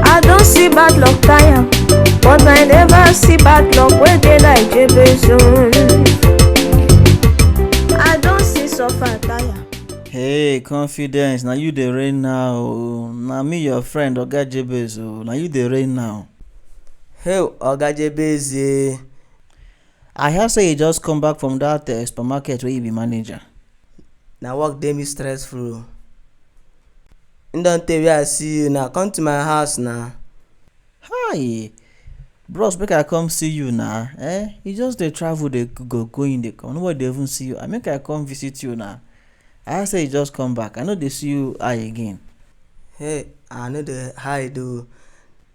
I don see bad luck tire, but I never see bad luck wey dey like Jebeson. I don see suffer tire. hey confidence na you dey reign now o na me your friend oga jebez o na you dey reign now Hey, Oga Jebeze. i hear say you just come back from dat uh, supermarket wey you be manager Na work dey me stressful. E don tey wey I see you na, come to my house na. Hi! Bros make I come see you na um you just dey travel dey go go in dey come nobody dey even see you and make I come visit you na. I hear sey you just come back I no dey see you eye again. Hey I no dey hide oo.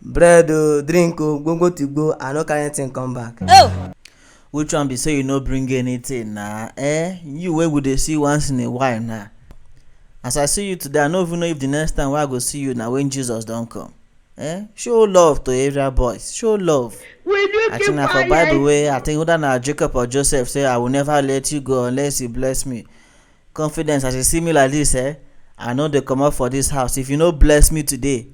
bread o drink o gbogbo to go i no carry anything come back. Oh. which one be say you no bring anything na eh you wey we dey see once in a while na as i see you today i no even know if the next time wey i go see you na when jesus don come eh show love to area boys show love Will you i keep think na for bible quiet? wey i think whether na jacob or joseph say i will never let you go unless you bless me Confidence as you see me like this eh I no dey comot for this house if you no bless me today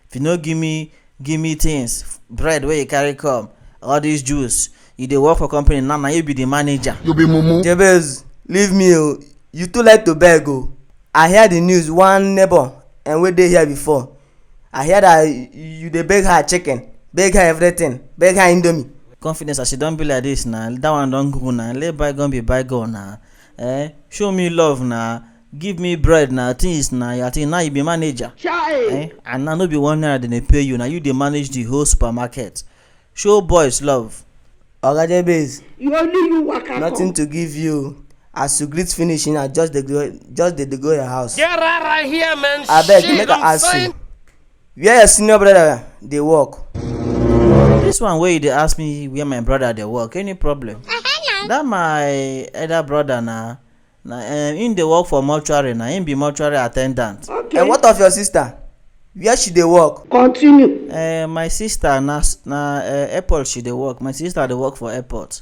if you no give me give me things bread wey you carry come all this juice you dey work for company now na you be the manager. You be mumu. Jabez, leave me o. You too like to beg o. I hear the news one neighbor and wey dey here before. I hear that you dey beg her chicken, beg her everything, beg her indomie. Confidence as you don be like this na that one don go na let bygone be bygone na Eh, show me love na, give me bread na, things na, your thing now you be manager. Chai! Eh, and now no be one naira dem dey pay you, na you dey manage the whole supermarket. Show boys love. Oga Jebez, You only you waka nothing come. to give you. As you greet finish, na just dey go, just dey dey go your house. Get out of here, man. Abeg, Shit, make I I'm ask saying- you. Where your senior brother dey work? This one wey you dey ask me where my brother dey work, any problem? That my elder brother na na um, him dey work for mortuary na, him be mortuary attendant. And what of your sister? Where she dey work? Continue. Um, my sister na na um, airport she dey work, my sister dey work for airport.